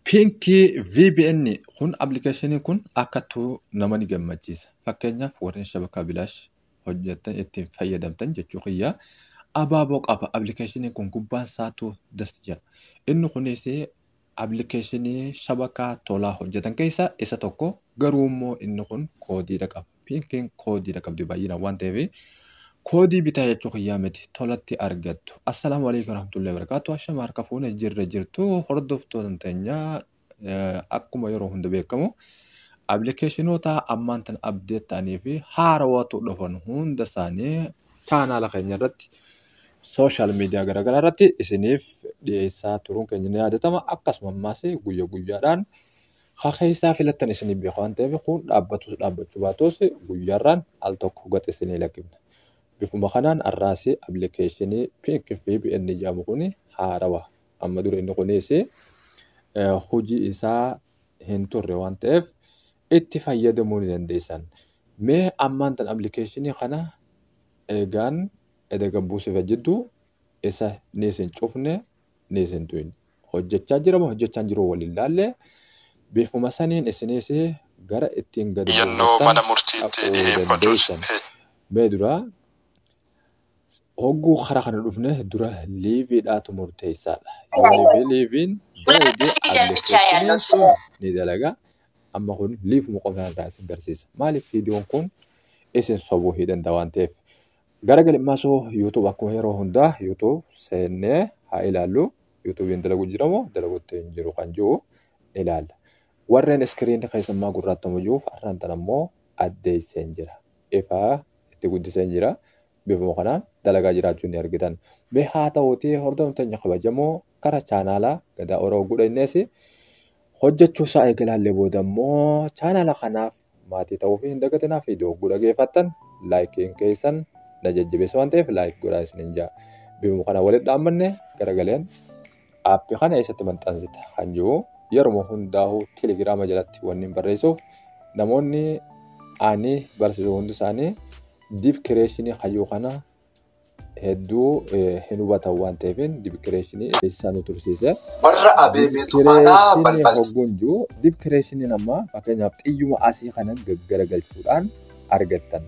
Piinkii VPN kun appilikeeshinii kun akkattuu nama ni gammachiisa. Fakkeenyaaf warreen shabakaa bilaash hojjettan ittiin fayyadamtan jechuu kiyya. Abaaboo qaba appilikeeshinii kun gubbaan isaatu das jedha. Inni kunis appilikeeshinii shabakaa tolaa hojjetan keessaa isa tokko garuu immoo inni kun koodiidha qaba. Pinkiin koodiidha qabdi baay'inaan waan ta'eef koodii bitaa jechuu kiyyaa miti tolatti argattu. Assalaamu alaikum warahmatullahi wabarakatuh. Ashama harka fuune jirra jirtu hordoftoota teenya eh, akkuma yeroo hunda beekamu appilikeeshinoota ammaan tan abdeet ta'anii fi haarawatu dhufan hunda isaanii chaanaala keenya irratti sooshaal miidiyaa garaagaraa irratti isiniif dhiyeessaa turuun keenya ni yaadatama. Akkasuma ammaas guyya guyyaadhaan Ka keessaa filattan isinii beeka waan ta'eef kun dhaabbatus dhaabbachuu baatus guyyaarraan al tokko gad isinii lakkifna. Bifuma kanaan har'aas appilikeeshinii Pink VPN jedhamu kun haarawa. Amma dura inni kunis hojii isaa hin turre waan ta'eef itti fayyadamuu ni dandeessan. Mee ammaan tan appilikeeshinii kana eegaan edaga buusifa jidduu isa ni isin cufne Listen to end. Hojjechaa jira moo hojjechaa hin jiru waliin laalle bifuma saniin isinis gara ittiin gadi Iyyannoo buufattan mana murtiitti dhaquu dhiheeffatus dandeessan. Mee dura hogguu karaa kana dhufne dura liiviidhaatu murteessaadha. Yoo liivii liiviin dalage application sun ni dalaga. Amma kun liivuma qofaa irraa isin garsiisa. Maaliif viidiyoon kun isin sobuu hin danda'a waan ta'eef Gara galmaasuu YouTube akkuma yeroo hundaa YouTube seennee haa ilaallu. YouTube'n dalagu jira moo dalagutti hin jiru kan jiru ilaalla. Warreen iskiriin keessummaa gurraattamu jiruuf har'aan tan ammoo addeesseen jira. Ifaa itti guddiseen jira. Bifuma kanaan dalagaa jiraachuu ni argitan. Mee haa ta'uutii hordoftoonni keenya kabajamoo kara chaanaala Gadaa Oro Gudheennees hojjechuu isaa eegalaallee booda immoo chaanaala kanaaf maatii ta'uu fi hin dagatinaa fi dogguu dhageeffattan laayikiin keessan na jajjabeessa waan ta'eef laayik godhaa isinin jaa bifuma kana walitti dhaammanne garagaleen aappii kana eessatti maxxansita kan jiru yeruma hundaa'u telegiraama jalatti wanni barreessuuf namoonni ani barsiisu hundi isaanii diif kireeshinii hayyuu kana hedduu hin hubatan waan ta'eefin dibkireeshinii eessaa nu tursiise. Warra abeebee tufaadhaa balbalti. Hogguun jiru dibkireeshiniin ammaa fakkeenyaaf xiyyuma asii kanan gaggaragalchuudhaan argattan.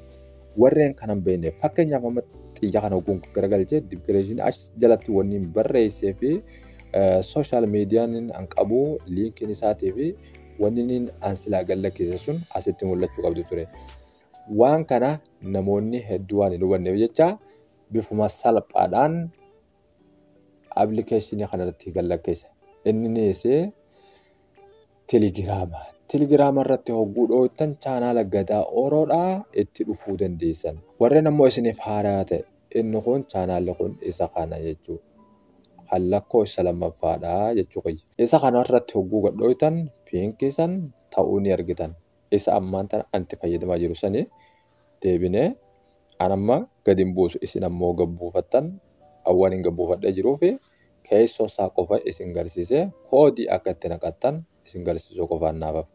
Warreen kanan beekne fakkeenyaaf amma xiyya kana hogguun garagalchee dibkireeshinii as jalatti wanni barreessee fi sooshaal miidiyaan an qabu liinkiin isaatii fi wanni an silaa gallakkeesse sun asitti mul'achuu qabdu ture. Waan kana namoonni hedduu waan hin hubanneef jecha bifuma salphaadhaan appilikeeshinii kanarratti kan lakkeessa. Inninis telegiraama. Telegiraama irratti hogguu dhooytan chaanaala gadaa ooroodhaa itti dhufuu dandeessan. Warreen ammoo isiniif haaraa ta'e inni kun chaanaalli kun isa kana jechuu kan lakkoo isa lammaffaadhaa jechuu kiyya. Isa kana irratti hogguu gadhooytan piinkiisan ta'uu ni argitan. isa ammaan tana ani itti fayyadamaa jiru sanii deebinee an amma gad hin buusu isin ammoo gad buufattan awwan hin gad buufadhee jiruu fi keessoo isaa qofa isin garsiisee koodii akka itti naqattan isin garsiisuu qofaan naafaf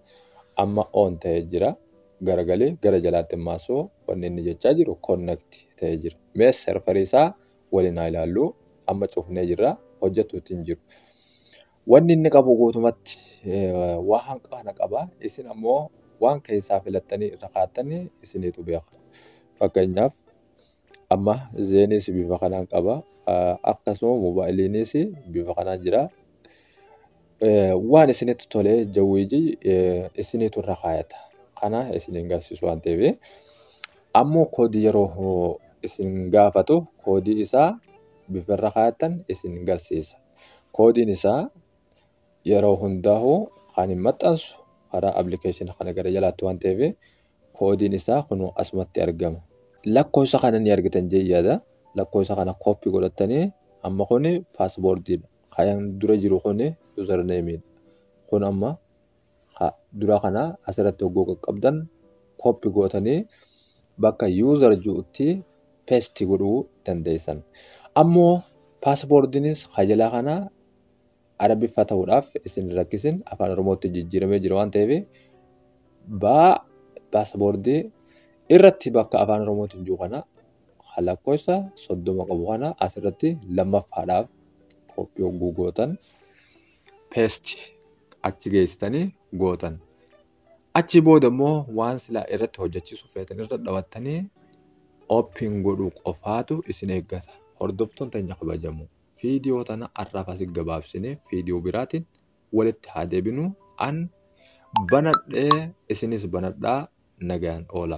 amma oon ta'ee jira garagalii gara jalaatti maasuu wanni inni jechaa jiru connect ta'ee jira mee serfarii isaa waliin haa ilaalluu amma cufnee jirra hojjetuutti hin jiru. Wanni inni qabu guutumatti waa hanqa kana qaba. Isin ammoo waan keessaa filattanii irra kaattanii isiniitu beeka. Fakkeenyaaf amma zeeniis bifa kanaan qaba. Akkasuma moobaayiliinis bifa kanaan jira. Waan isinitti tole jawwiiji isiniitu irra kaayata. Kana isiniin garsiisu waan ta'eef. Ammoo koodii yeroo isin gaafatu koodii isaa bifa irra kaayattan isin garsiisa. Koodiin isaa yeroo hundaahu kan hin maxxansu karaa application kana gara jalaatti waan ta'eef koodiin isaa kun asumatti argama. Lakkoofsa kana ni argitan jee yaada. Lakkoofsa kana kooppii godhattanii amma kun paasboordiidha. Kan dura jiru kun yuuzarneemiidha. Kun amma ka dura kana asirratti hogguu qaqqabdan copy gootanii bakka user jirutti paste godhuu dandeessan. Ammoo paaspoordiinis ka jalaa kana arabiffa ta'uudhaaf isin hin rakkisin afaan oromootti jijjiiramee jira waan ta'eef baa paaspoortii irratti bakka afaan oromootiin jiru kana ka lakkoofsa soddoma qabu kana asirratti lammaffaadhaaf koppii hogguu gootan paste achi geessitanii gootan. Achi booda immoo waan silaa irratti hojjechiisu feetan irra dhawattanii open godhuu qofaatu isin eeggata. Hordoftoon teenya kabajamu. Fiidiyoo tana har'aaf asi gabaabsine fiidiyoo biraatiin walitti haa deebinu. An banadhee isinis banadhaa nagaan oola.